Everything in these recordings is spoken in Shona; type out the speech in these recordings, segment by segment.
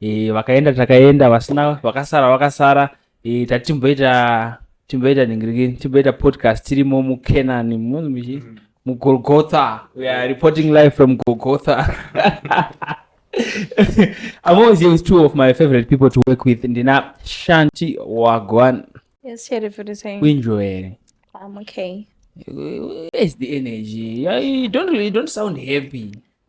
e, vakaenda takaenda vasina vakasara vakasara e, tatimboita timboita ningiriki timboita podcast tirimo mucanani muzimichi mugolgotha we are reporting live from golgotha i'm always here with two of my favorite people to work with ndina shanti wagwan yes sheriff what are you saying kuinjoya here i'm okay where's the energy you don't, you don't sound happy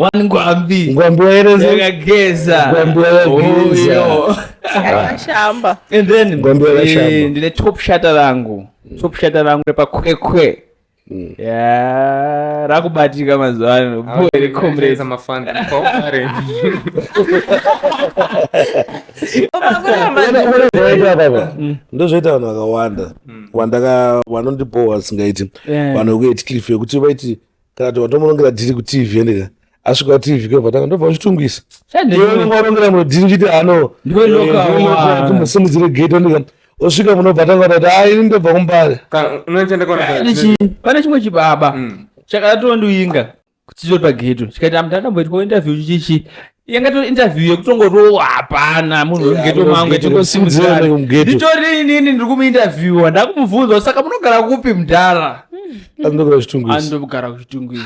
one ngwambi ngwambi waereza yakageza ngwambi yakageza oh, akashamba and then ngwambi yakashamba eh, ndine top shata rangu mm. top shata rangu repa kwekwe mm. ya rakubatika mazuva ano boy re comrade mafanda kokare mm. ndozvoita vanhu vakawanda wandaka vanondibhowa singaiti vanhu vekuetiklife yekuti vaiti kana kuti watomunongera dhiri kutv ende ka asvika kutv kwevatanga ndobva uchitungisa iweungarongera muno dhiri kuti ano simudzire gate ondika osvika munobva tanga tati a ini ndobva kumbare pane chimwe chibaba mm. chakatoondiinga kuchitori pageto chikaita mnhu akamboitwa interview chichi yanga to interview yekutongorova hapana munhu ngetomangetitori inini ndiri kumuinterviewa ndakumubvunza saka munogara kupi mudhara andogara kuchitungwizi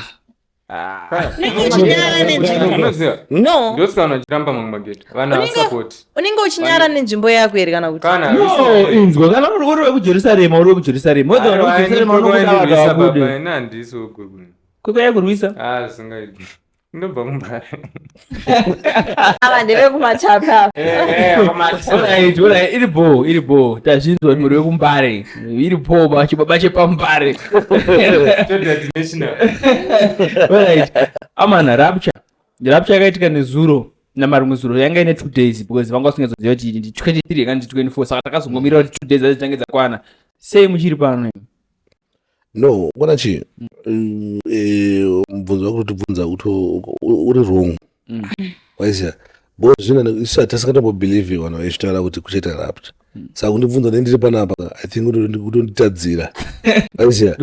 unenge uchinyara nenzvimbo yako here kana kutiinzwa kana uri uri wekujerusarema uri wekujerusarema wedzaa kukuya kurwisa ah, ndobva kumbare ava ndevekumachapa Alright, alright, iri bho iri bho tazvinzwa mhuri wekumbare iri bho ba- chibaba chepambare Alright. amana rapture rapture yakaitika nezuro namarumwe zuro yanga ine two days because vanga vasingazoziva kuti ndi 23 kana ndi 24 saka takazongomirira kuti two days dzacho dzitange dzakwana sei muchiri pano imi? no kona chii mm, eh, mubvunzo wako kutibvunza kuti uri wrong mm. waizia because zvina isu hatisingatambobelieve vanhu vachitaura kuti kuchaita rapt mm. saka kundibvunza ne ndiri panapa i think kutonditadzira waizia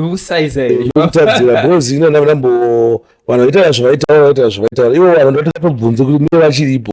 kutadzira because ina ndambo vanhu vaitaura zvavaitaura vaitaura zvavaitaura ivo vanhu ndotakatobvunze kuti mie vachiripo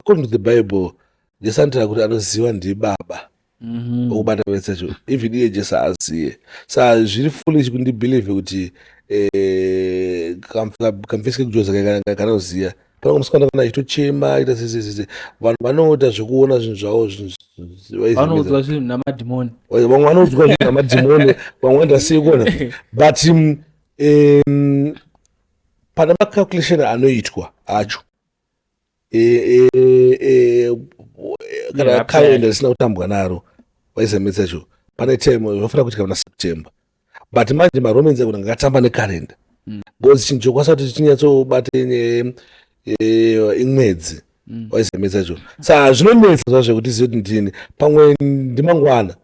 according to the bible jesu anotaura kuti anoziva ndibaba mhm. okubata mm -hmm. vesacho even iye jesu aziye sa zviri foolish kundibelieve kuti eh, kamfisike kujoza kanoziva pana musikana kana achitochema aita zezezeze vanhu vanoita zvekuona zvinhu zvavo zvinhuvanoudzwa zvinhu namadhimoni vamwe vanoudzwa zvinhu namadhimoni vamwe vanoita sei kuona but um, pana macalculation anoitwa acho kana kalenda risina kutambwa naro waisametsa cho pane time unofanira kuitika muna september but manje maromans akuna ngakatamba nekalenda mm. bcause chinhu chokwasa kuti chinyatsobata imwedzi mm. waisametsa cho sa zvinonetsa zvazvekuti zive kuti ndini pamwe ndimangwana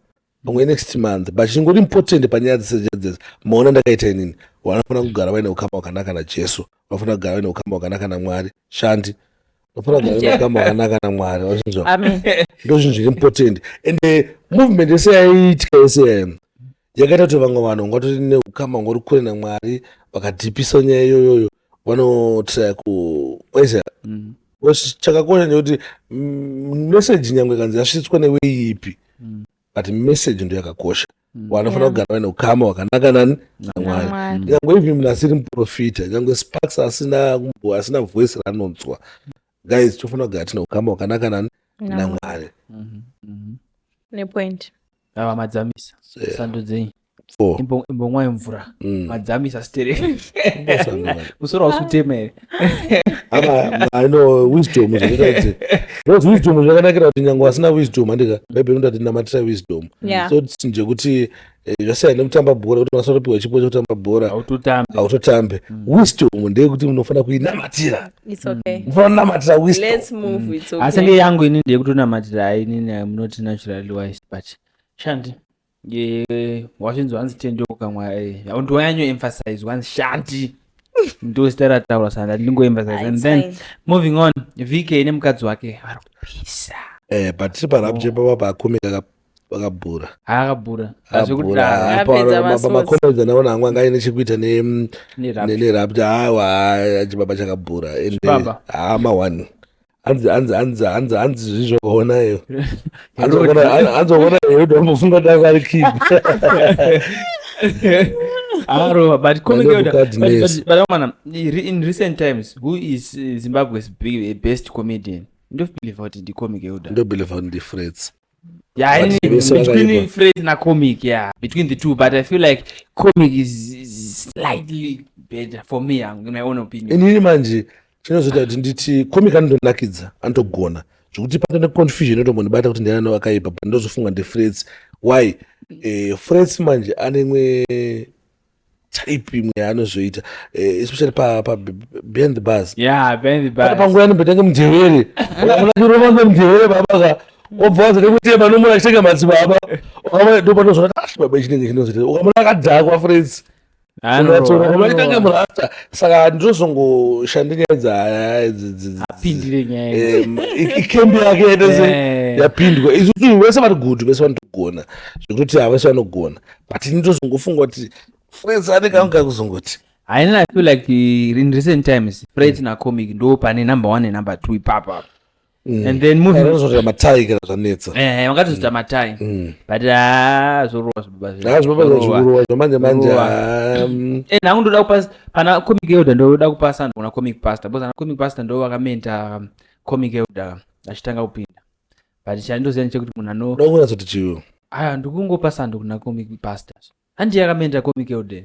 pamwe next month but chingori important panyaya dzese dzese maona ndakaita inini vanofanira kugara vaine ukama hwakanaka najesu vanofanira kugara vaine ukama hwakanaka namwari shandi vanofanira kugara vaine ukama hwakanaka namwari vachinzwa ndo zvinhu zviri important and eh, movement yese yaiitika yese yayo yakaita kuti vamwe vanhu vangatoti neukama hungori kure namwari vakadhipisa nyaya iyoyoyo vanotraya ku waisa mm. chakakosha ndekuti mm, meseji nyange kanzi yasvitswa neweiipi mm. mm. but message ndo yakakosha mm. wanofanira yeah. kugara vaine ukama wakanaka nani namwari nyangwe even munhu asiri muprofita nyangwe sparks asina asina voice ranonzwa guys tofanira kugara tine ukama wakanaka nani namwari mm -hmm. mm -hmm. nepoint avamadzamisa yeah. sando dzenyu four Imbo- imbomwa imvura Mm. madzamisa stereki Mbosana vanhu. musoro hausi kutema here Apa, I know wisdom zvakaita kuti those wisdom zvakanakira kuti nyange wasina wisdom handika bhaibheri rinoti namatira wisdom Yeah. so tinje kuti eh, zvasiyana nekutamba bhora kuti mwana atopiwa chipo chekutamba bhora hautotambi hautotambe wisdom ndeyekuti munofanira kuinamatira It's okay. munofanira kunamatira wisdom Let's move. It's asi okay. nge yangu ini ndeyekutonamatira inini munoti naturally wise but shandi wachinzi wanzi tendeuka mwae ndiwanyanyo emphasize wanzi shanti ndo zita rataura sana ndati ndingoemphasize and then moving on vk nemukadzi wake vari kupisa eh but tiri parap chepa oh. baba akumi vakabhura akabhura makomedzi anaona hangu anga aine chekuita nerapti awa chibaba chakabhura ende haa ah, mahwani hanzi hanzi hanzi hanzi hanzi zvi zvakaona iyo hanzoona herodo ambofunga kuti anga ari kid arova but komiaana in recent times who is eh, zimbabwe's best comedian ndobelieve kuti ndicomic euda ndobelieve kuti ndifrets Yeah, but in, vese between vakaipa phrase na comic, yeah, between the two, but I feel like comic is, is slightly better for me, um, in my own opinion. inini manje chinozoita kuti nditi comic anondonakidza anotogona zvekuti pata neconfusion yotongondibata kuti ndiana wakaipa but ndozofunga ndefrets why eh, frets manje anemwe type imwe yaanozoita eh, especially pa, pa behind the bars yeah behind the bars panguva yanombotange mudhevere ukamona chirova nemudhevere baba ka wabva wazi nekuti manomona achitenga madzibaba ukamona ndo panozona ah, ashi baba ichinenge chinozoita ukamona akadhakwa friends unoachitange murasta saka ndozongoshande nyaya dzaapindire nyaya eh, ikembi yake yaitese eh. yapindwa isusu vese vari good vese vanotogona zvekutoti havese vanogona but ini ndozongofunga kuti freds anekanga kuzongoti haini i feel like uh, in recent times freds mm. nacomic ndo pane number one nenumber two ipapa mm. and then movingzvoita matai kana zvanetsa eh, eh, vangatozoita mm. matai mm. but ah, zvorova zvibabazvikurova zvamanje manje ah, mm. eh, nangu ndoda kupa pana comic elder ndoda kupa sando kuna comic pastor because ana comic pastor ndo vakamenta um, comic elder achitanga kupinda but chandindoziva ndechekuti munhu ano ndokunyatsoti chiyo aya ndikungopa sando kuna comic pastor handi yakamenera comic elder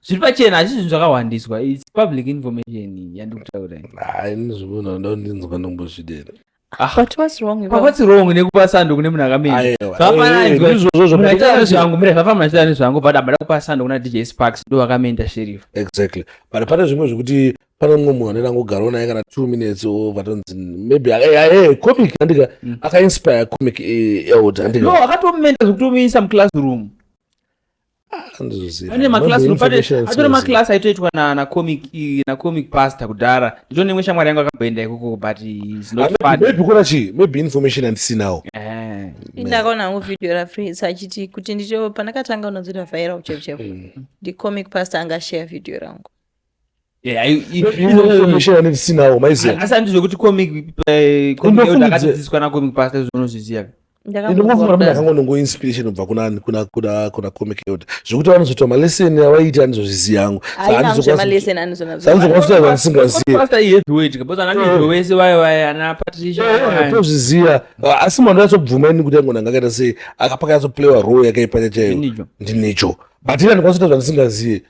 zviri pachena hazvisi zvinhu zvakahwandiswa its public information yandikutaura iyi. hayi ndizvimuna ndondinzwa ndombozvidera But what's wrong with Papa what's wrong nekupa sando kune munhu akamena Aiwa. Zvakafanana Eh, izvo- ndizvozvo munhu achiita zvakati- nezvangu mire zvafana munhu achiita nezvangu but abada kupa sando kuna dj sparks ndo vakamenda sheriff exactly but pane zvimwe zvekuti pane mumwe munhu anoenda ngogarwa naye kana two minutes or vatonzi maybe ae comic andika mm. akainspire comic eh, eld andika no akatomumenta zvekutomuisa muclassroom ah, atori maclass aitoitwa nacomic nacomic pastor kudhara ndito nemwe shamwari yangu akamboenda ikoko but maybe kona chii maybe information andisinawo eh. ndakaona hangu video rafrisa achiti kuti ndito pandakatanga unonzira vhaira uchevuchevu mm. ndicomic pastor anga share video rangu asandizvekutiomikpaadzidziswa nacomic pasta zvinozviziva ndinongofunga kuti ndakanga ndongo inspiration ubva kuna comic yoda zvekuti vanozoita malesson avaiita anizozviziva yangu anizokwaatozviziva asi mwana yatsobvuma ini kuti ango ndanga akaita sei akapaka yatsoplayiwa role yakaipa chaiyo ndinicho but ini andikwanisa kuita zvandisingazive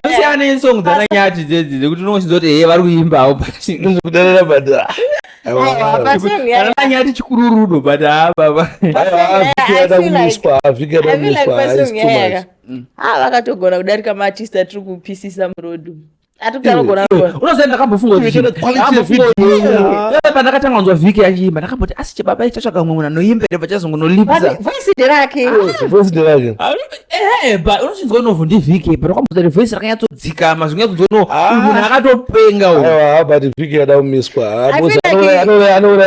kusiyana nesong dzananyati dzedzi dzekuti unongosinza kuti heye vari kuimbawo kudanana but ananyati chikururudo but haavakatogona kudarika maartist atiri kupisisa murodu unoziva ndakambofunga pandakatanga kunzwa vhiki yachiimba ndakamboti asi chibaba ichatsvaga mumwe munhu anoimba ere vachazongo nolipsaunochinzwa unovhu ndi vhiki but wakamboza kuti voice rakanyatsodzikama zvinyatsonzwa no munhu akatopenga but vhiki yada kumiswa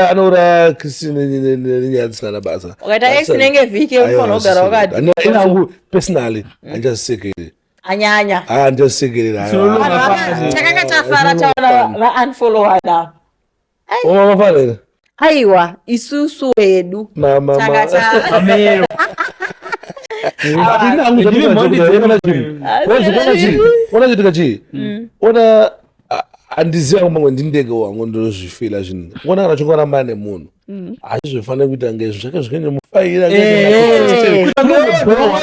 anouraya christine nenyaya dzisina na basa ukaita x nenge vhiki unofanira kugara wakati personally andichazisekeri anyanya ah ndosekerera takanga tafara taona vaunfollowana vafarira aiwa isusu hedu takataamero ona chitika chii mm. ona handiziva kwamangwe ndindege wangu ndinozvifila zvinhu ona kana chingorambana nemunhu Mm. hazvizofanira kuita ngezvo zvake zvikaenda mufaira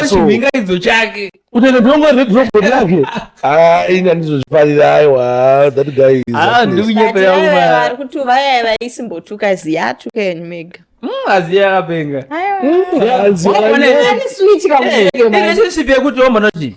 chimhingaidzo chake kutaita dongo redrobot rake ini andizozvifarira aiwa that guy ah, ndikunyepeaari kuti vaya vaisimbotuka ziyatu kenyu mega mm, aziya yakapenga mm, relationship yekuti wambonotii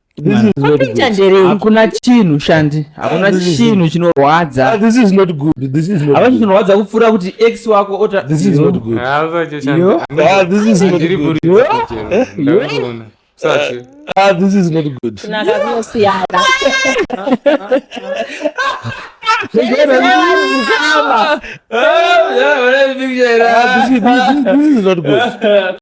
hakuna chinhu shandi hakuna ah, chinhu chinorwadza ah, hapana chinorwadza kupfuura kuti x wako otaunakazosiyana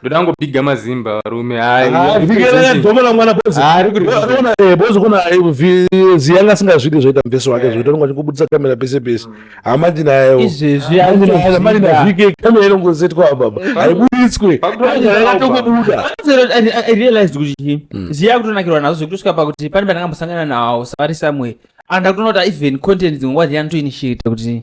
ndoda ngobhiga mazimba varume haaidomona mwana boziona eh, bozi kuna ziyanga asingazvidi zvoita mveso wake zvoita nonga chingobudisa kamera pese pese hamandi nayoamandi navhike kamera inongozetwa ababa haiburitswe atokubuda realized kuti hmm. ziya kutonakirwa nazo zvekutosvika pakuti pane pandangambosangana nawo savari somewhere and ndakutonota even content dzimwe wadziyani toinitiate kuti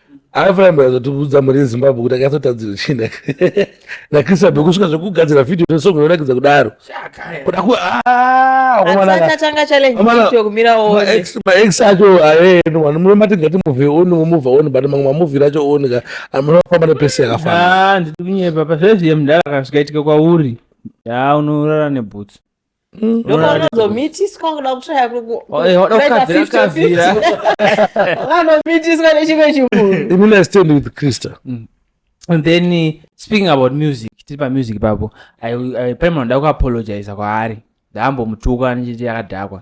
aifamba azotiudza muri zimbabwe kuti akazotadzira china nakrisabe kusvika zvekugadzira vhidhio resong inorakidza kudaro kudakumaex acho aenu vanhu munomatinga timuvi oni mumuva oni but mamwe mamuvhiri acho oni ka anofamba nepese yakafana ah, ndiri kunyepa pazvezviye mudhara kazvikaitika kwauri yaa unorara nebhutsu Mm. ndokwaunozomitiswa kuda kutraya kuanomitiswa nechimwe chimunhu with krista mm. and then uh, speaking about music tiri pamusic ipapo paimanoda kuapologiza kwaari ndaambomutuka ndichiti akadhakwa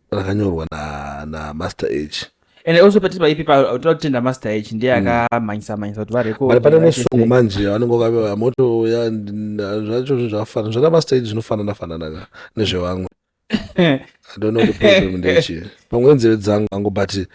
rakanyorwa na, na master h and also pati paipi toda kutenda master h ndiye hmm. akamhanyisa mhanyisa kuti varekodbut pane nesongo manje vanenge vakaveva moto ya zvacho zvinhu zvakafanana zvana master h zvinofanana fananaka nezvevamwe i don't know the problem ndechii pamwe nzeve dzangu angu but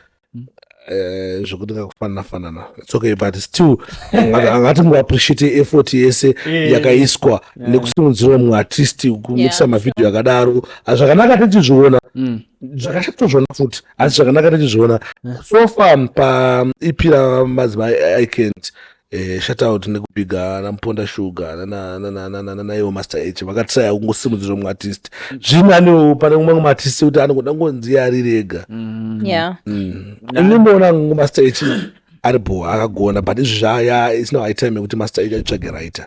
Eh, zvekuti kakufanana fanana its okay but still angati muappreciate effort yese eh. yakaiswa nekusimudzira mumwe artist kumikisa mavhidhiyo akadaro ah, zvakanaka tichizviona mm. zvakashatozviona futi asi zvakanaka tichizviona so far paep ramadzimai icant Eh, shout out nekupiga ana muponda sugar nana- nana- nana- nanaiwo master h vakatisaya kungosimudzira mumwe artist zvino anewo pane mumwe mumwe artist kuti anogoda ngonzi ari rega yeah ndimboona kungu master h ari bho akagona but izvi zvaya isina high time yekuti master h atsvage writer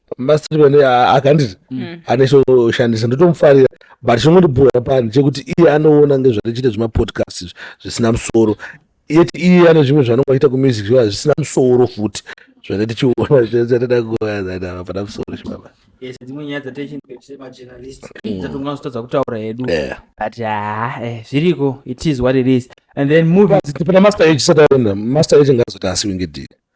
mastatement akanditi mm. ane choshandisa ndotomufarira but chinondibhoya pani chekuti iye anoona ngezvarichiita zvemapodcast izvi zvisina musoro yeti iye ane zvimwe zvanonga achiita kumusic zviva zvisina musoro futi zvane tichiona zvatida kuoaaa pana musoro chibaba dzimwe nyaya dzataichimachernalist mm. tatonga zotadza kutaura hedu but haa ah, eh, zviriko it is what it is and then movie tipana master age sataenda master age ngaazoti asiwe ngedii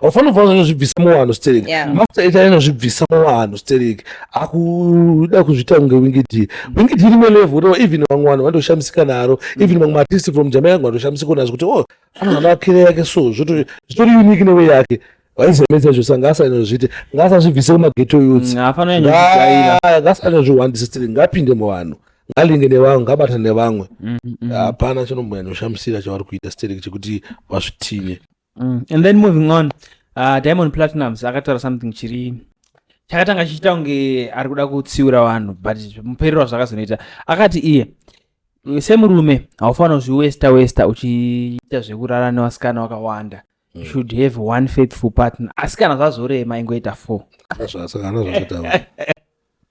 haufanira kufanira zvinozvibvisa muvanhu stereki yeah. masta ita inozvibvisa muvanhu stereki akuda kuzviita kunge wingidi wingidi rimwe level no even vamwe vanhu vanotoshamisika naro even vamwe maartist from jamaica vamwe vanotoshamisika nazo kuti oh anogana akire yake so zvitori unique newe yake vaizemedza zvo sanga asanozviite ngaasazvibvise kumageto youth ngasanozvihwandisa mm, stereki ngapinde muvanhu ngalinge nevamwe ngabata nevamwe mm, mm. hapana chinomboyanoshamisira chavari kuita stereki chekuti vazvitinye mm. and then moving on uh, diamond platinums akataura something chiri chakatanga chichiita kunge ari kuda kutsiura vanhu but muperero wazvakazonoita akati iye semurume haufanira kuzviwesta westa uchiita zvekurara nevasikana wakawanda mm. should have one faithful partner asi kana zvazorema ingoita four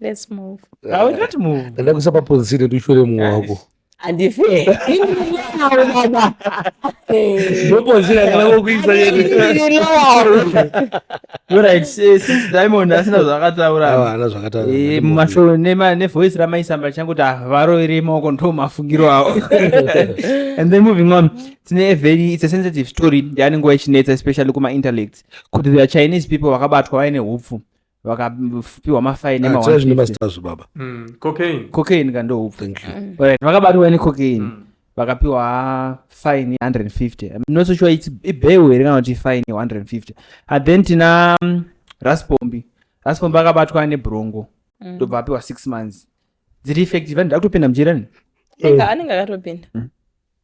Let's move. Now we don't move. Ndada kusapa ponzire tushure mumwe wako. Andife. Ndinowa baba. Ndoponzire kana kokuisa yeye. Ndinowa. You're right. Since Diamond asina zvakataura. Awa ana zvakataura. Eh mumashow nema ne voice ramaisamba changu ta varo iri moko ndo mafungiro awo. And then moving on. Tine a very it's a sensitive story. Yanenge ichinetsa especially kuma intellects. Kuti the Chinese people vakabatwa vaine hupfu. vakapiwa mafaini ah, emaazvo baba mm, cocaine cocaine kandoupfu mm. right vakabatwa ne cocaine mm. vakapiwa fine 150 not so sure it's ibeu here kana kuti fine 150 and then tina mm, raspombi raspombi akabatwa nebrongo ndobva apiwa six months dziri effective anenge akutopinda mujirani anenge akatopinda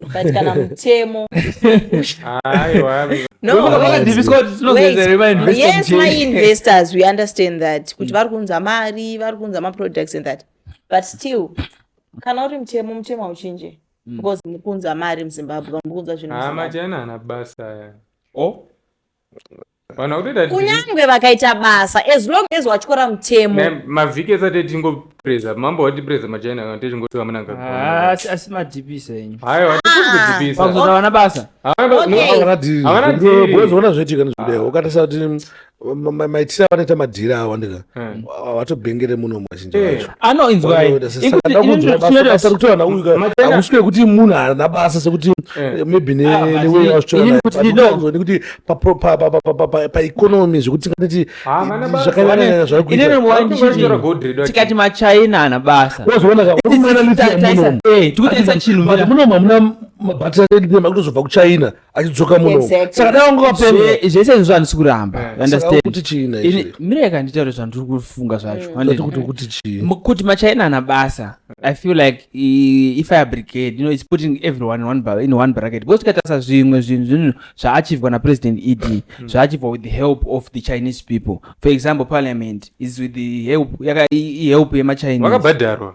but kana mutemo yes my investors we understand that kuti vari kuunza mari vari kuunza maproducts and that but still kana uri mutemo mutemo hauchinje mm. because mukunza mari muzimbabwe vamukunza zvinhu amachena ana basa o kunyangwe vakaita basa as long as watyora mutemo mavhiki esati etingopreza mambo wati preza machina kana techingoti vamunanga ah, asi asi madhipisa enyu hayo wati kudhipisa ah. vana basa havana dhiri havana dhiri boys vona zvetika nezvideo ukatasa kuti maitira vanoita madhiri awa ndika Hmm. vatobhengere muno mazhinji eh, vacho anoinzwainzwainzwainzwainzwainzwainzwa kuti vana uyu hakusi kwekuti munhu haana basa sekuti eh. maybe neweya vachitoanekuti paeconomy zvekuti tingatiti zvakanyanya zvakuitikati machina ana basa wazoonakamunomu eh, hamuna mabatire makuti zvobva kuchina achidzoka muno Exactly. saka dai wanga wapemha Zve- zvese izvozvo handisi kuramba You saka understand? kuti chii na Ini- izvi mirai kanditaure zvandiri kufunga zvacho Zati handiti? kuti kuti chii M- kuti machaina ana basa i feel like i- ifire brigade you know it's putting everyone in one, ba- in one bracket because tikatarisa zvimwe zvinhu zvinhu zvaachivwa napresident ed zvaachivwa with the help of the chinese people for example parliament is with the help yaka i- i- help yemachinese vakabhadharwa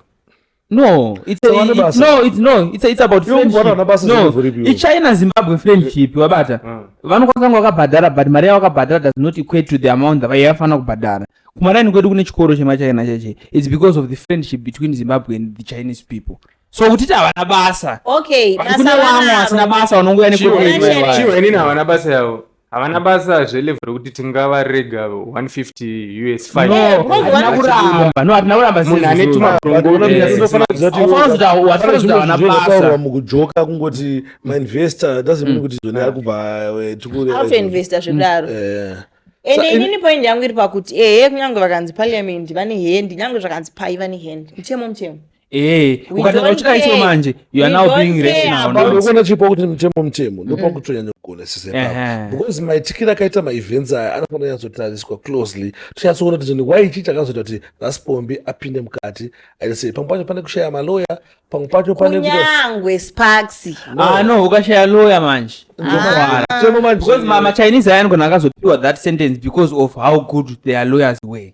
No, it's a, Sawane it's, basa. no, it's no, it's a, it's about Iwe mubhora una basa friendship. zvinotori No, iwe. iChina Zimbabwe friendship wabata. Mm. Vanokwanisa kunge wakabhadhara but mari yawakabhadhara does not equate to the amount that yavafanira kubhadhara. Kumaraini kwedu kune chikoro chemaChina cheche. It's because of the friendship between Zimbabwe and the Chinese people. So kutiti havana basa. okay But basa kune vamwe vanaro. vasina basa vanongouya Chiwe, nekwedu. Chiwe, Chiwe, inini havana basa yavo havana basa zvelevel rekuti tingavarega 150 us finofanira mukujoka kungoti mainvestor doesn't mean mm. kuti zvone ari kubva eh, tikuinvesta zvekudaro mm. eh. ende inini point yangu iri pakuti ehe kunyange vakanzi parliament vane hand nyange zvakanzi pai vane hand mutemo mutemo Eh, ukatanga uchida iso manje you are now being rational now. Ndokona chipo kuti mutemo mutemo ndopa mm. kutonyanya kugona sise pa. Because maitikira akaita ma events aya anofana yanzotariswa closely. Tichasoona kuti ni why ichi chakazoita kuti Raspombi apinde mukati. I say pamwe pacho pane kushaya ma lawyer, pamwe pacho pane kuti kunyangwe Sparks. Ah no, ukashaya lawyer manje. Ndokwana. Ah. Temo manje. Because mama Chinese ayan gona akazopiwa that sentence because of how good their lawyers were.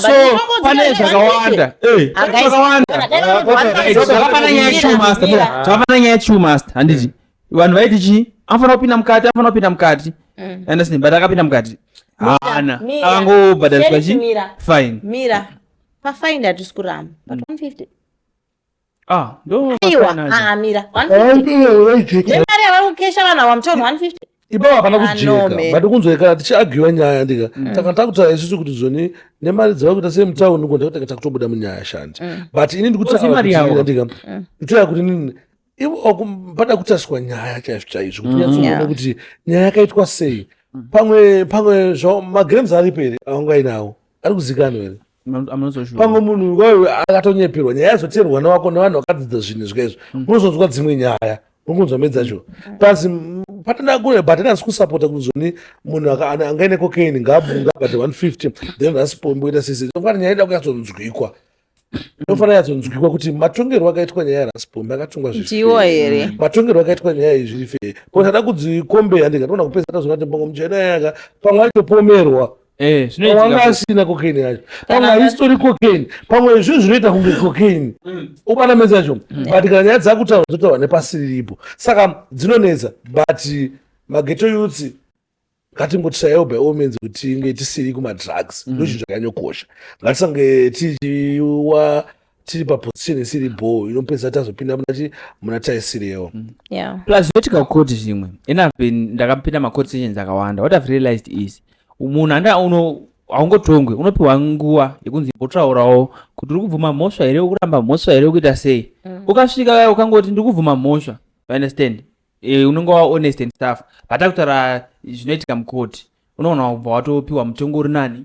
so pane zvakawanda zvakawandazvakafana nyaya yechumasta zvakafana nyaya yechumasta handiti vanhu vaiti chii anofanira kupinda mukati anofanira kupinda mukati mm. andasini but akapinda mukati haana akangobhadhariswa chi fine mira pafaini hatisi kuramba but 150 Ah, ndo Aiwa, ah, mafanana. ah, mira. 150. Nemari yavari kukesha vanhu ava mutorwa 150. ipapo hapana Ah, no, man. kujeka but kunzwekana tichiagiwa nyaya ndika taka takutaura isusu kuti zoni nemari dzava kuita sei mutauni uko ndakutanga takutobuda munyaya shandi but ini Kozi mari yavo. ndikutaakuitika ndikutoya kuti nini ivo waku- pada kutariswa nyaya chaizvo chaizvo kuti nyatsoona Yeah. kuti nyaya yakaitwa sei pamwe pamwe zvao magrams aripo here aungainawo ari kuzikanwa here pamwe munhu iwayo akatonyeperwa nyaya yazoteerwa mwana wako nevanhu vakadzidza zvinhu izvo kaizvo mm. unozonzwa dzimwe nyaya unkunzwa medza zvo plus patanakure but anasi kusapota kuti zvoni munhu angaine cocaine ngabunga but 150 then rasipomboita sisi tofana nyaya ida kuyatsonzwikwa inofanira yatsonzwikwa kuti matongerwo akaitwa nyaya yarasipombe akatongwa zviiwo here matongerwo akaitwa nyaya izvirife ko tada kudzikombeya ndikatoona kupesa tazoona timbongo muchena yaka pamwe aitopomerwa Eh, wanga asina cocaine yacho pamwe haisitori cocaine pamwe izvo zvinoita kunge cocaine mm. ubana meza yacho mm. but kana nyaya dzakutaura dzotaura nepasi riripo saka dzinonetsa but mageto youths ngatingotishayawo by all means kuti tinge tisiri kumadrugs mm. ndozvinhu zvakanyokosha ngatisange tichiwa tiri paposition isiri bhoo inopedza tazopinda munati muna taisirewo mm. yeah. plus voti kakoti zvimwe and i've been ndakapinda macode sessions akawanda what i've realized is munhu anda uno haungotongwe unopiwa nguva yekunzi imbotaurawo kuti uri kubvuma mhosva here ukuramba mhosva here ukuita sei mm. ukasvika vaya ukangoti ndiri kubvuma mhosva you understand e, unenge wa honest and stuff but akutaura zvinoitika mukoti unoona kubva watopiwa mutongo uri nani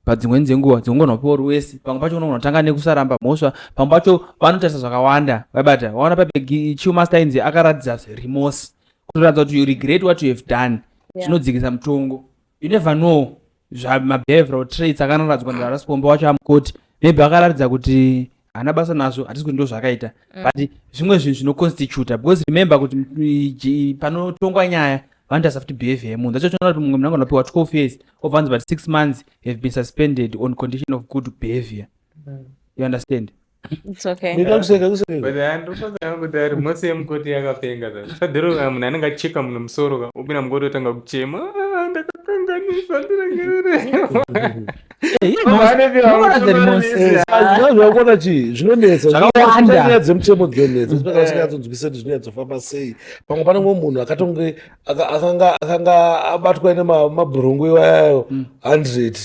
padzimwe dzenguva dzongona kupiwa ruwesi pamwe pacho unogona kutanga nekusaramba mhosva pamwe pacho vanotarisa zvakawanda vabata vaona pabegi chiumaster inzi akaratidza remorse kutoratidza kuti you regret what you have done zvinodzikisa yeah. mutongo you never know zvabehavioral traits akanaradzwa ndarasipomba wacho amukoti maybe akaratidza kuti haana basa nazvo hatisi kuti ndo zvaakaita mm. but zvimwe zvinhu zvinoconstituta because remember kuti panotongwa nyaya vanoita safuti behavior yemunhu that's why kuti mumwe munhu ange anopiwa 12 years obva anzi but six months have been suspended on condition of good behavior mm. you understand mose yemukoti yakapenga sadhiroka munhu anenge acheka munhu musoro ka upina mukoti otanga kuchema ah, ndakapenganisa ndiregerere zvakona chii zvinonetsanyaya dzemutemo dzinonetsa zvinonyatsonzwisa kuti zvinonyatsofamba sei pamwe panenge munhu akatonge akanga abatwa ine mabhurungu iwayayo hundred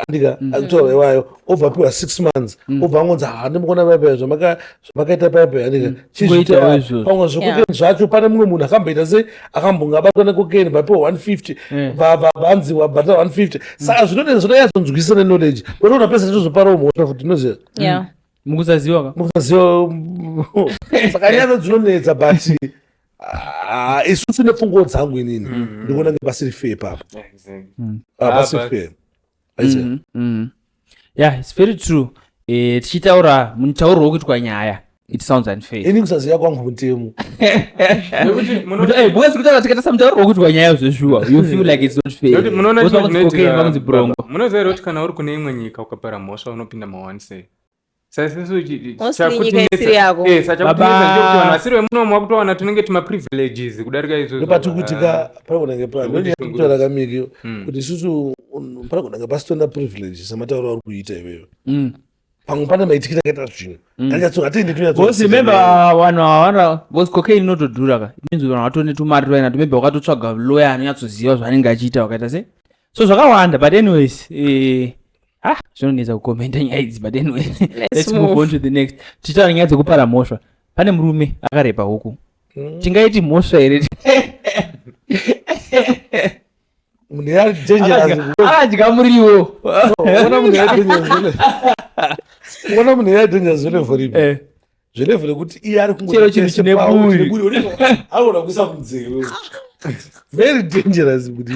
andika akutaura iwayo obva apiwa six months obva angonzi handimukona vaipa zvamaka zvamakaita paya paya ndika chizviita Kungoitawo wapi? izvozvo. pamwe zvekokeni zvacho pane mumwe munhu akamboita sei akambonge abatwa nekokeni vapiwa 150 Eh. va- va- vanzi wabhadhara 150 saka zvinodei zvinonyatsodzwisa neknowledge watoona pese tozoparawo mhosva futi unoziva Yeah. mukusaziwa ka mukaziva saka nyaya dzinonetsa but ah, isusu nepfungwo dzangu inini ndikuona kunge pasiri fair papa Ah, pasiri fair aiziva mm -hmm. mm -hmm. yeah it's very true eh, tichitaura mutauro wekuitwa nyaya it sounds unfair ini kusaziva kwangu mutemo because kutaura tikatasa mutauro wekuitwa nyaya zveshuwa you feel like it's not fair munoona zvinoti brongo munoziva here kuti kana uri kune imwe nyika ukapara mhosva unopinda mawanisei saisisuchitakutinetsaakutinetsachakutinetsakutinetsakutivasiri vemuno mwa kutowana tunenge tuma privileges kudarika izvozvopatikuitika panakunenge panototora kamiki kuti isusu panakunenge pasitona privileges samatauro auri kuita iweyo pamwe pane maitikira akaita zvinhu anyatsooatenditonyatsosimembavanhu avana bcause cocaine inotodhura ka means vanhu vatone tumari twaina tumembe wakatotsvaga loya anonyatsoziva zvaanenge achiita wakaita se so zvakawanda but anyways eh, ah zvinonetsa kukomenta nyaya idzi but anyway let's move on to the next tichitaura nyaya dzekupara mhosva pane murume akarepa huku mm. tingaiti mhosva here akadya muriwo ona munhu yaidenya zvele voripi zverevo rekuti iye ari kungochero chinhu chine buri aona kuisa munzeve very dangerous kuti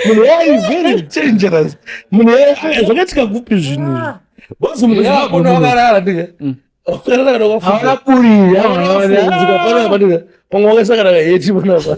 munhu yayi very dangerous munhu yayi zvakaitika kupi zvinhu izvi bozi munhu yaakona wakarara ndika wakarara kana wakafuaona buri aaaaaaa pamwe wakasakana kaheti panapa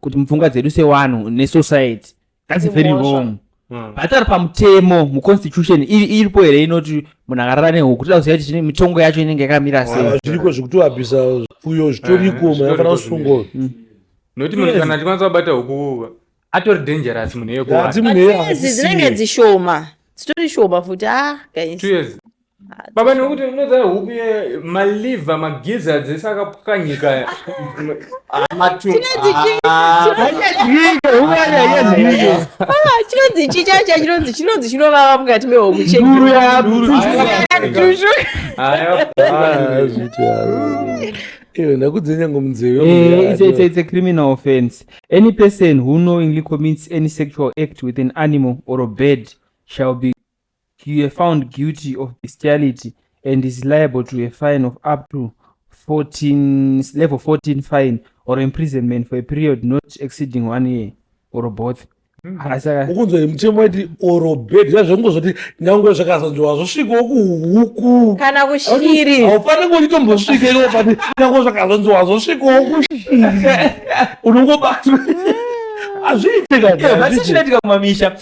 kuti mupfungwa dzedu sewanhu nesociety thats very wrong hmm. but ari pamutemo muconstitution iripo here inoti munhu akarara nehuku toda kuziva kuti mitongo yacho inenge yakamira sei ah, zviriko zvekutoabhisa uyo zvitoriko eh, maafana kusungwa hmm. nokuti munhu kana achikwanisa kubata huku atori dangerous munhu yekoadzinenge dzishoma dzitori shoma futi a ah, guys Baba nekuti unoziva hupi maliver magiza dzese akapwanyika chinonzi chi chacha chinonzi chinonzi chinovava mukati mehomu cheduru Iwe ndakudzinye ngomunzeve. Eh, it's, it's, it's a criminal offense. Any person who knowingly commits any sexual act with an animal or a bird shall be He were found guilty of bestiality and is liable to a fine of up to 14, level 14 fine or imprisonment for a period not exceeding one year or both. Asaka, ukunzwa iri mutemo waiti orobed zvazvongozvoti nyangwe zvakazonzwa zvosvikawo kuhuku kana kushiri haufani kutitombosvika iwo pati nyangwe zvakazonzwa zvosvikawo kushiri unongobatwa hazviite Yeah, but kani sezvinoitika kumamisha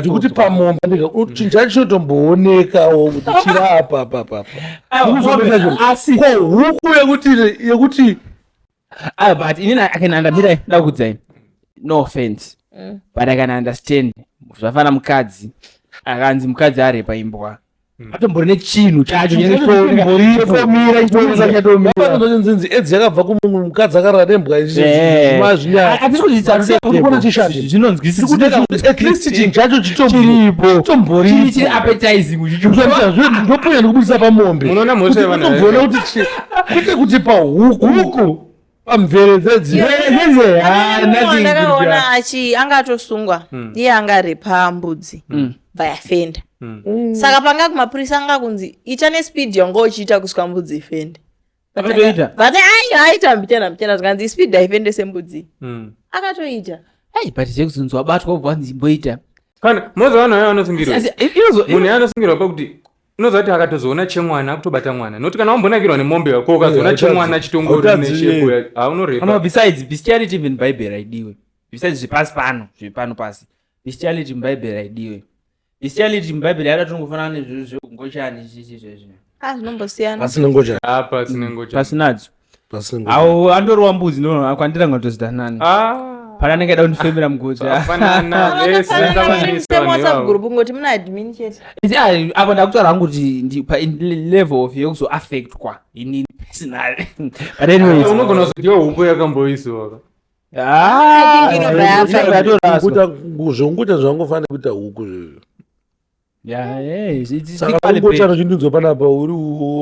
ndikuti pamombe chinjani chinotomboonekawo kuti chiri apa apa apa ko huku yekuti ah, but ini na- i can understand ndakudzai no offense Mm. but i can understand zvafana mukadzi akanzi mukadzi arepa imbwa atombori nechinhu chacho Chatomira, Nzinzi edzi yakabva kumunhu mukadzi akarara nembwa Eh. mazvinyaya Kuona chishanje. Tiri zvinonzwisisa kuita kuti at least chinhu chacho chiripo chitombori appetizing uchicho ndoponya ndikubudisa pamombe Munoona mhosva yevana Unombona kuti chi- kwete kuti pahuku huku pamvere dzedzi ndakaona achi anga atosungwa hmm. iye anga ari pambudzi hmm. vayafenda hmm. saka panga kumapurisa anga kunzi ita nespeed yanga uchiita kusvika mbudzi ifende akatoita vati ayo aita mbichena mbichena zvikanzi ispeed haifende sembudzi akatoita ai but zvekuzonzi wabatwa ubva wanzi imboita kana moza vanhu vaya vanosungirwa munhu yanosungirwa pakuti unoziva kuti akatozoona chemwana akutobata mwana noti kana wambonakirwa nemombe ko ukazoona chemwana chitongoriabesides bestiality even bible raidiwe besides zvepasi pano zvepano pasi bestiality mubible raidiwe bestiality mubible yada tinongofanana nezvezvekungochani chichi zvezvino ah, pasinadzo awo andori wambudzi ndoakwandira ngati zita nani ah. pane anenge aida kundifemera mugoti apa ndakutaura hangu kuti palevel of yekuzoaffectwa inini personally but anyways unogona kuzotiwa huku yakamboisiwaka ah, zveunguta zvangofanira kuita huku zvizvo Yeah, yeah, it's, it's saka equally bad. ungocharo chindinzwa panapa uri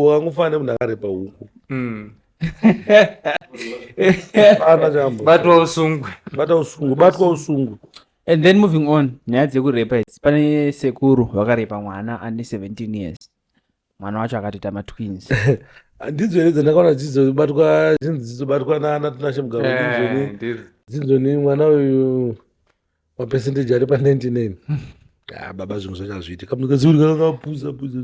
wangofana nemunhu akarepa huku Mm. ana chambo batwa usungwe bata usungwe batwa usungwe and then moving on nyaya dzekurepa idzi pane sekuru vakarepa mwana ane 17 years mwana wacho akatoita matwins ndidzo here dzandakaona dzizobatwa zvinzi dzizobatwa nana tinashe mugaro dzinzoni eh, dzinzoni mwana uyu mapercentage ari pa 99 ah, baba zvinhu zvacho hazviiti kamukaziuri kakakapuza puza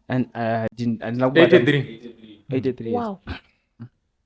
andina kubata 83 83 wow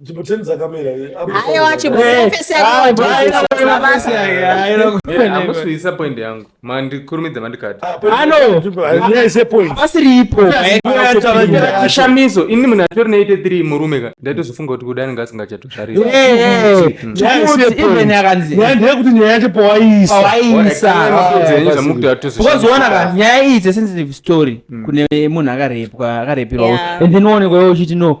Jibuteni dzakamera Aiwa chimuprofesi amusvisa point yangu mandikurumidza mandikati pasiripo chishamiso ini munhu atori ne 83 murume ka ndaitozofunga kuti kudani ngasingachatozvarisndeyekuti nyaya yacho pawaiisazvamukutoatozvamukutoatozvaona ka nyaya iyi it's a sensitive story kune munhu akarepwa akarepirwa and then uonekwa uchiti no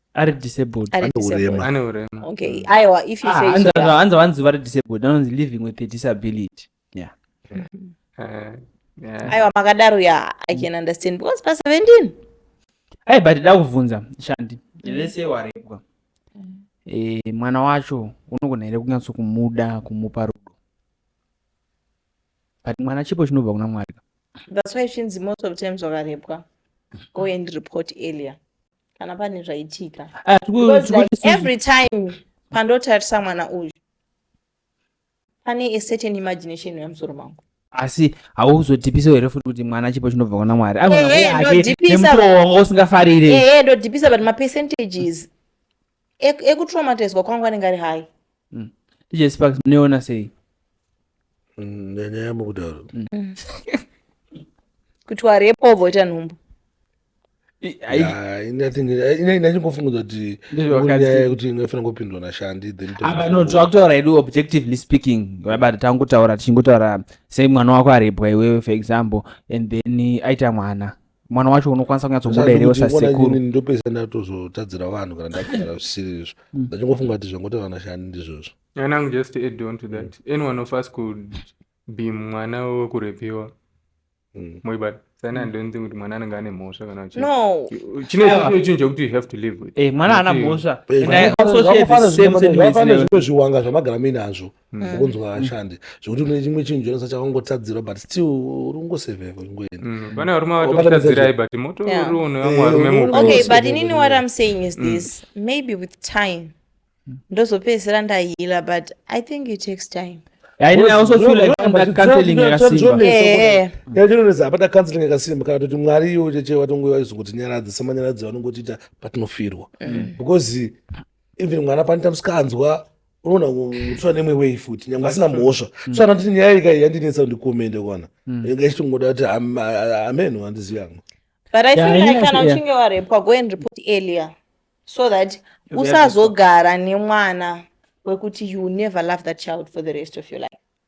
ari disabled Ari Ane disabled. urema. ane urema Okay, aiwa if you Ah, say so, hanzi- yeah. hanzi vanzi vari disabled anonzi living with a disability yeah Eh, yeah. aiwa makadaro ya i can understand because pa 17 ai but da kuvhunza shandi vese warepwa Eh, mwana wacho unogona here kunyatso kumuda kumupa rudo but mwana chipo chinobva kuna mwari that's why zvinzi most of times wakarepwa go and report earlier kana pane zvaitika ah, every time pandotarisa mwana uyu pane a certain imagination yamusoro mangu asi hauzodhipisa here futi kuti mwana chipo chinobva kuna mwari anemutowo wanga usingafarire ndodhipisa but mapercentages ekutraumatizwa kwangu anenge ari hai mm. dj sparks munoiona sei mm, nyanya yamo kudaro mm. kuti warepo voita nhumbu inachingofunguza kuti nyaya kuti inofanira kupindwa nashandi thenakutaura hedu objectively speaking vabati tangotaura tichingotaura sei mwana wako arepwa iwewe for example and then aita mwana mwana wacho unokwanisa kunyatsobuda here usasekuru ndopesa ndatozotadzira vanhu kana ndakugara zvisiri izvo mm. ndachingofunga kuti zvangoita vanashani ndizvozvo anangu just add on to that mm. anyone of us could be mwana wekurepiwa mm. moibata sani handionzi kuti mwana anenge ane mhosva kana chine chinhu chekuti you have to live with eh, mwana ana mhosva zvimwe zviwanga zvamagara muinazvo mm. ukunzwa hashandi zvekuti une chimwe chinhu chonasa chakangotadzirwa but still uri kungosevepo chingoenda mm. pane varume vatokutadzirai but moto uri une vamwe varume mu okay but inini what i'm saying is mm. this maybe with time ndozopedzisira ndahila but i think it takes time yatinonesa apata counseling yakasimba kana toti mwari iwo cheche vatongo vaizokotinyaradza semanyaradzi vanongotiita patinofirwa mm. because even mwana panoita musikanzwa unoona mutsva nemwe wei futi nyange asina mhosva mm. tsvana kuti nyaya ika yandinetsa kuti ndikomende kwana mm. inga ichitongoda kuti ameno handizivi yangu but i feel like kana uchinge warepwa go and report earlier so that usazogara nemwana wekuti you never love that child for the rest of your life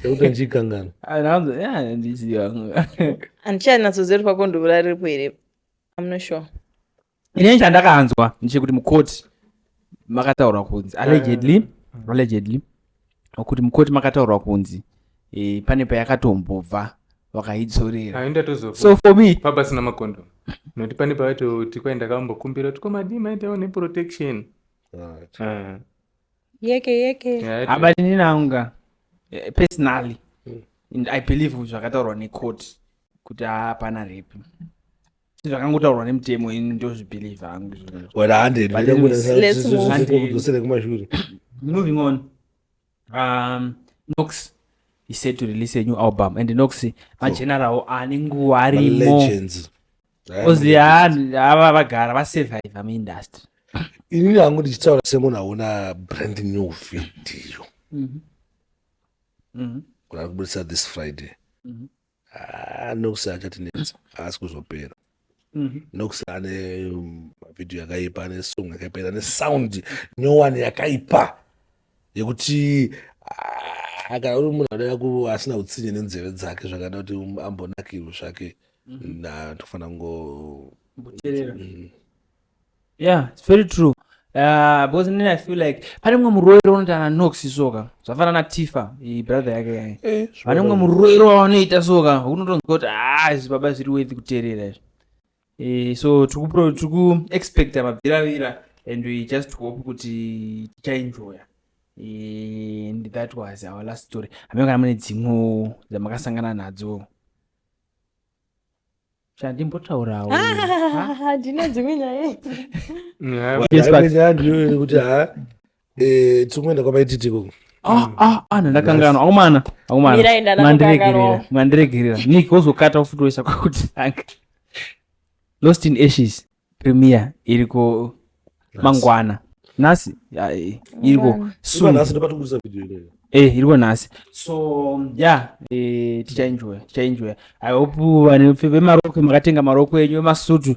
Ndokuti ndichikanganwa. Anonzi yeah ndiziva. Andichanyatsoziva kuti pakondobura riripo here. I'm not sure. Ini chandakanzwa ndechekuti mukoti makataurwa kunzi allegedly ah. allegedly kuti mukoti makataurwa kunzi eh, pane payakatombobva vakaidzorera ah, so for me pabasina makondo nokuti pane pavaitoti kwai ndakambokumbira kuti komadii maitawo neprotection ah, yeke yeke Yeah, haba ndini nanga eh, personally and i believe zvakataurwa necourt kuti hapana rape zvakangotaurwa nemutemo ini ndozvibelieve hangu izvozvo. wena hande But anyways, let's move. ndikudzosere kumashure moving on um nox he said to release a new album and nox mageneral ane nguva arimo legends Ozi yaani ava vagara vasurvive muindustry. Inini hangu ndichitaura semunhu aona brand new video. Mhm. Mhm. Kuna kubudisa this Friday. Mhm. Ah, nokusi achatinetsa haasi kuzopera. Mhm. Nokusi ane um, video yakaipa ane song yakaipa ane sound nyowani yakaipa. yekuti ah, kana uri munhu anoda ku asina utsinye nenzeve dzake zvakada kuti um, ambonakirwe zvake mhm. na tofanira kungo mboterera mm. yeah it's very true Uh, because then I feel like pane mwe muroero unoti ana Nox soka zvafana na Tifa i brother yake yaye eh, pane mwe muroero wanoita soka unotonzwa kuti ah izvi baba zviri worth kuterera izvi Eh, so tikuexpecta mabviravira and we just hope kuti tichaenjoya eh, and that was our last story hameno kana mune dzimwewo dzamakasangana nadzo chandimbotaurawo ndine dzimwe nyaya kuti ha Eh, tikumenda kwamaititi ikoko Ah, ah, ah, ndandakanganwa akomana akomana Mira enda mandiregerera ndakanganwa. mandiregerera nik wozokata ufutoisa kwakutanga lost in ashes premier iriko mangwana nhasi ya, eh, iriko Mangwana. Iva soon nhasi ndopatikuisa video ineyo eh iriko nhasi so ya eh, tichaenjoya tichaenjoya i hope vane vemarokwe makatenga marokwe enyu vemasutu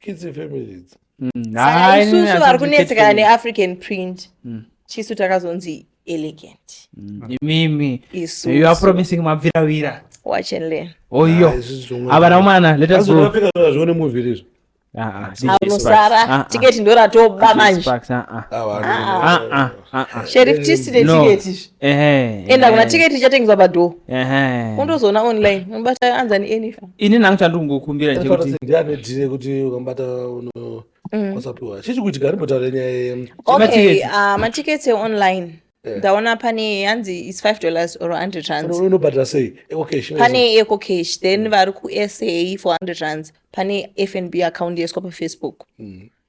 kidzi family idzi mm, isusu vari kunetsekana neafrican print mm. chisu takazonzi elegant mm. imimi you are promising mabviravira watch and learn oyo oh, ah, avana umana let us go africa zvione movie lizvo anosara tiketi ndoratoba manje Ah, ah. sheriff tisine No. tiketi izvi Ehe, enda kuna ehe, tiketi ichatengeswa padhoo ehe. undozoona online unobata anzani enifa ini nangu chandingokumbira chekuti ndianedhire kuti ukambata uno kwasapiwa chichi kuti gari mbotaura nyaya ye- okay Matiketi. ah, matiketi eonline Eh. ndaona pane yanzi is 5 dollars or 100 rands uno- unobhadhara sei okay sure. pane eco cash then vari kusa for 100 rands pane fnb account yaiswa pafacebook Mm.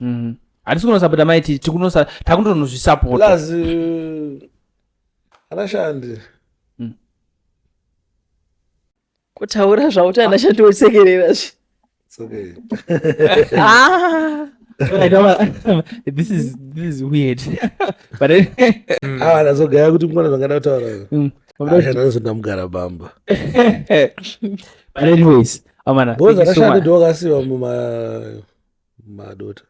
Mhm. hatisi kunosapota mai titi tikunosa takutonozvisapota plus uh, anashandi kutaura zvauti ana shandi wosekerera zve it's okay Ah, this is this is weird but anyway, awa ndazogaya kuti mkona zvangada kutaura mm, anashandi anozoti ndamugara bamba but anyways amana because thank you so anashandi much. ndiwo akasiwa muma madota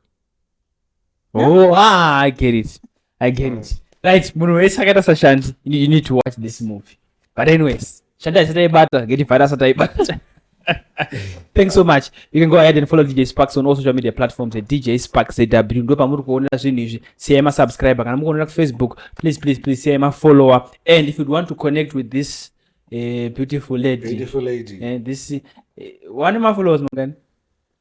oh ah i get it i get it right munhu wese akaita sashanti you need to watch this movie but anyways shanti asati aibata ngeti vhara asati aibata thanks so much you can go ahead and follow dj sparks on all social media platforms at dj sparks zw ndo pamuri kuonera zvinhu izvi siyai masubscriber kana mukuonera kufacebook please please please siyai mafollower and if you'd want to connect with this uh, beautiful lady, beautiful lady. Uh, this uh, eh, one of my followers mangani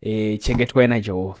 e, chengetwai najehovha